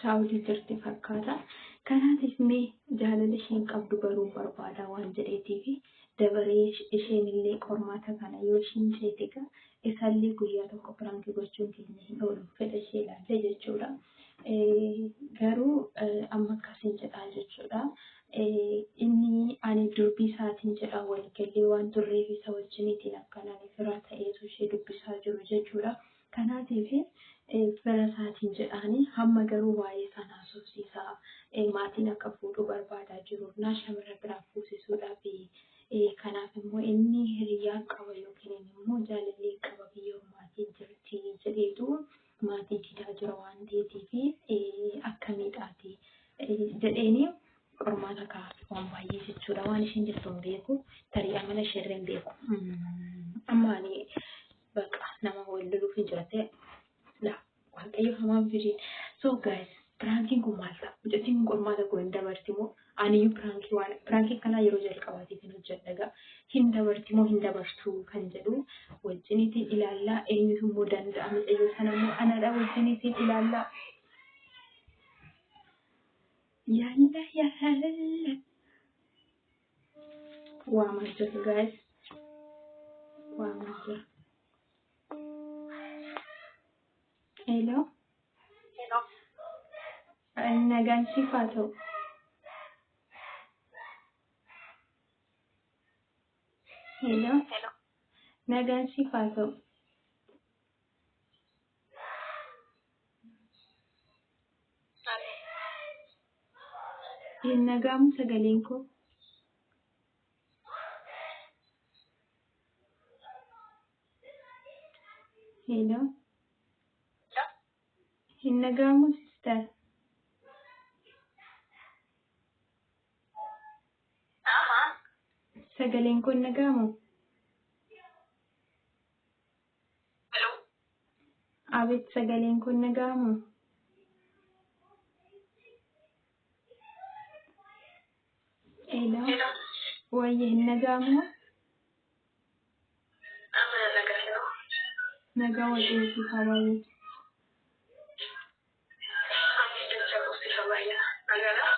Saawudii jirti fakkaata. Kanaatiif mee jaalala isheen qabdu baruu barbaada waan jedheetiifi dabaree isheenillee qormaata kana yoo isheen ceete egaa isallee guyyaa tokko piraanki gochuun keenya hin oolu fedha ishee ilaallee jechuudha. Garuu amma akkasiin jedhaa jechuudha. Inni ani durbii isaatiin jedhaa waliigallee waan turreef isa wajjiniitiin akkanaan firaa ta'eetu ishee dubbisaa jiru jechuudha. Kanaatiif fira isaatiin jedhaanii hamma garuu waa'ee isaan haasofsiisaa maatiin akka fuudhuu barbaadaa jiruufnaa shamarra biraa fuusisuudhaafi kanaaf immoo inni hiriyyaa qaba yookiin inni immoo jaalallee qaba biyya ormaatiin jirti jedheetu maatii didaa jira waan ta'eetiifi akka miidhaati jedheeni qormaata kaa'aaf waan baay'ee jechuudha waan isheen jettu hin beeku tarii amala isheerra hin beeku amma ani Baqa nama wal loluuf hin jirate. Laa waaqayyo hamaa miti hojii. So guys piraankiin kun maal ta'a? Mucattiin kun qormaata koo hin dabarti moo? Aniyyuu piraankii waan piraankii kanaa yeroo jalqabaatiif hin hojjedha egaa. Hin dabarti moo hin dabartu kan jedhu wajjiniitiin ilaallaa eenyutu immoo danda'a mucayyoo sana immoo anadha wajjiniitiin ilaallaa. Yalla yalla. Waa maal jirtu gaa'is? Waa maal jiru? Hello? Nagaan siif haa ta'u. Hello? Nagaan siif haa ta'u. Hin nagaamu sagaleen koo. Hello. Hin nagaamu sister. Sagaleen koo hin nagaamu. Hello. Abet sagaleen kun nagaamu. Hello. Hello. Wayye hin nagaamu. Amma na nagaa hello. Nagaa wajjin si hawaii. Amma jecha qofti hawaaya. Nagaadha.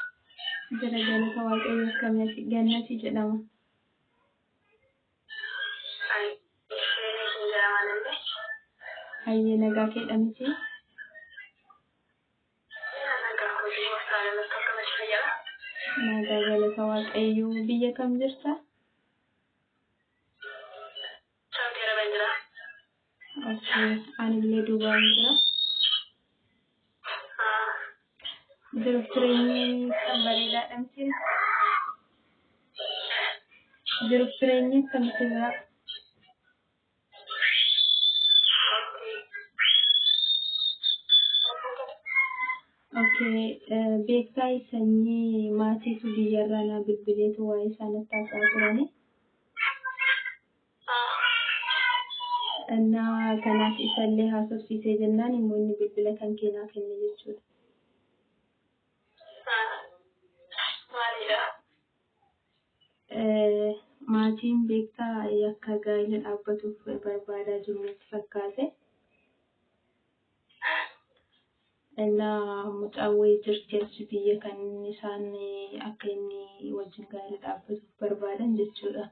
Jira galata waaqayyo akkamitti gannati jedhama. Hayyee nagaa keedha miti. Nagaa galata waaqayyoo biyya kam jirta? Okay. Anillee duubaan jira. Jiruuf jireenyi kan bareedaadha miti. Jiruuf jireenyi kan miti jira. Okay. eh, Beektaa sanyii maatiitu biyyarraa naa bilbileetu waa'ee isaa natti haasa'aa turani. Dhannaa kanaaf isa illee haasofsiisee jennaan immoo inni bilbila kan kee naa kenne jechuudha. Maatiin beektaa yakka gaa'ila dhaabbatuuf barbaadaa jiru natti fakkaate. Ennaa mucaan wayii jirti achi biyya kan isaan akka inni wajjin gaarii dhaabbatuuf barbaadan jechuudha.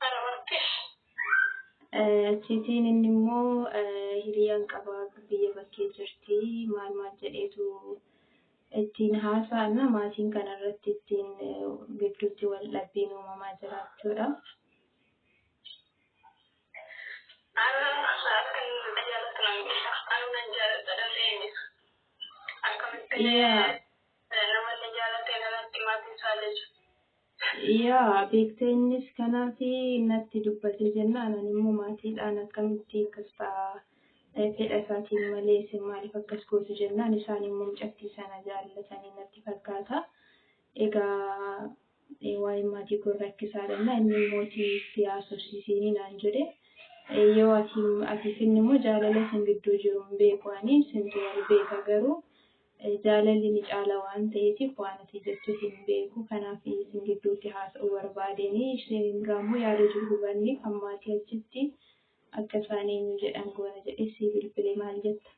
Kana murteef Eh, Achiitiin inni immoo eh, hiriyaan qaba biyya bakkee jirti maal maal jedheetu ittiin haasa'anna maatiin kana irratti ittiin eh, gidduutti wal dhabbiin uumamaa jiraachuudha. Yaa beektee innis kanaaf natti dubbate jennaan ani immoo maatiidhaan akkamitti akkas ta'a fedha isaatiin malee isin maaliif akkas gootu jennaan isaan immoo mucattii sana jaallatanii natti fakkaata. Egaa Ee, waa'een maatii kun rakkisaa dha jennaan inni mootii itti haasofsiisiini naan jedhe. Ee, Yoo ati ati finni immoo jaalala isin gidduu jiru hin beeku ani isintu wal beeka garuu eh, jaalalli ni caala waan ta'eetiif waan ati jettu hin beeku kanaaf isin gidduutti haasa'uu barbaadeeni isheen biraa immoo yaada jiru hubanne kan maatii achitti akka isaan eenyu jedhan goona jedhee sii bilbile maal jetta?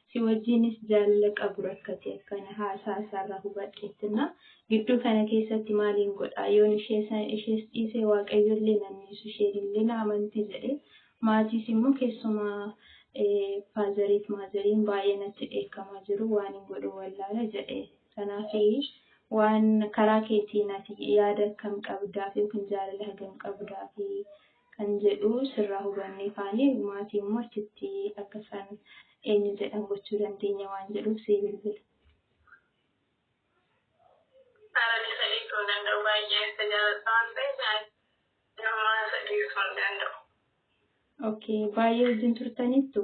si wajjiinis jaalala qabu rakkate akkana haasaa isaarraa hubadheettinna gidduu kana keessatti maaliin godhaa yoon ishee san ishees dhiisee waaqayyollee nan dhiisu isheenillee na amanti jedhe maatiis immoo keessumaa faazariif maazariin baay'ee natti dheekkamaa jiru waan hin godhu wallaala jedhe kanaaf waan karaa keetiin ati yaada akkam qabdaaf yookiin jaalala hagam qabdaaf kan jedhu sirraa hubanne kaane maatii immoo achitti akka isaan eenyu jedhan gochuu dandeenya waan jedhuuf sii bilbile. Sarani isa dhiisuu hin danda'u baay'een isa jaaladha waan ta'eef nama isa dhiisuu hin danda'u. Okay, baay'ee wajjin turtaniittu?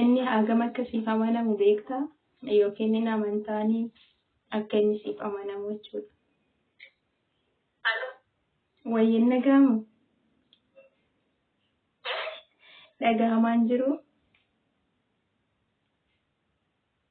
Inni hangam akka siif amanamu beektaa? Yookiin hin amantaanii? Akka inni siif amanamu jechuudha. Wayyin dhaga'amu? Dhagahamaan jiru?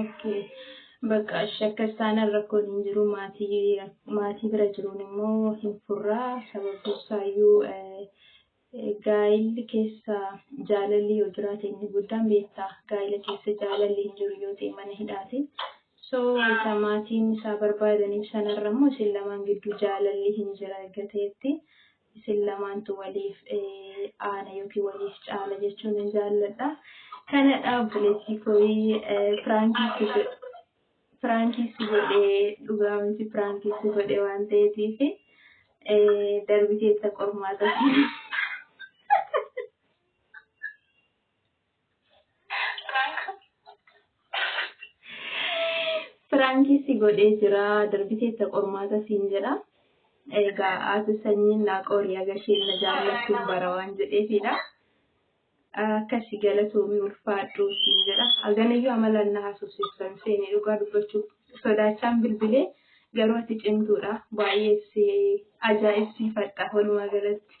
Okay. Bakka ishee akka isaan rakkoon hin jiru maatii maatii bira jiruun immoo hin furraa sababii isaayyuu eh, eh, gaa'illi keessa jaalalli yoo jiraate inni guddaan beektaa gaa'ila keessa jaalalli hin jiru yoo ta'e mana hidhaati. So isa maatiin isaa barbaadaniif sanarra immoo isin lamaan gidduu jaalalli hin jira erga ta'etti Isin lamaantu waliif aana yookiin waliif caala jechuun hin jaalladha. Kanadha obboleettii kooyii piraankii si godhe. Piraankii si godhe dhugaa miti piraankii si godhe waan ta'eetiif darbiteetta qormaata si. Piraankii si godhee jira darbiteetta qormaata siin jedha. Egaa haati sanyiin naa qorii agasheen na jaallachuun bara waan jedheefidha. Akkasi galatoomii ulfaadhuu siin jedha. Aganayyuu amalaan na haasofsiisan seenee dhugaa dubbachuuf sodaachaan bilbilee garuu ati cimtuudha. Baay'ee si ajaa'ibsiifadha walumaa galatti.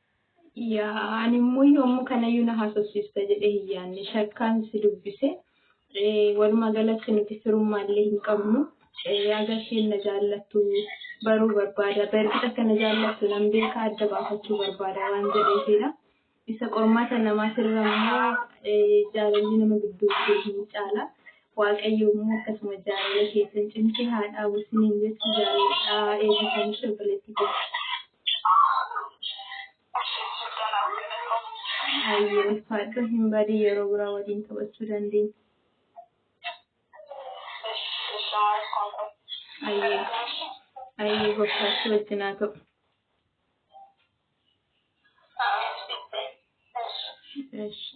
Yaa animmoo yoommu kanayyuu na haasofsiista jedhee hin yaanne shakkaan si dubbise. Walumaa galatti nuti firummaallee hin qabnu. Aga isheen na jaallattu baruu barbaada. Bargit akka na jaallattu nan beeka adda baafachuu barbaada waan jedheefidha. Isa qormaata namaatirra immoo jaalalli nama gidduu jiru hin caala. Waaqayyo immoo akkasuma jaalala keessan cimsee haa dhaabu isiniin jechuu jaalladhaa eebbifamii obboleettii keessa. Ayyee ulfaadhu hin badin yeroo biraa waliin taphachuu dandeenya. Ayyee ayyee gooftaatti wajjin haa ta'u. Eshi.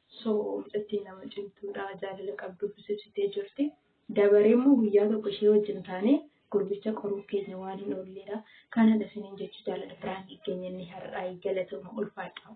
So mucattiin nama cimtuudha. Jaalala qabdu fusibsitee jirti. Dabaree immoo guyyaa tokko ishee wajjin taanee gurbicha qoruuf keenya waan hin oolleedha. Kanadha isiniin jechuu jaalala biraankii keenya inni har'aa galatooma ulfaadhaa.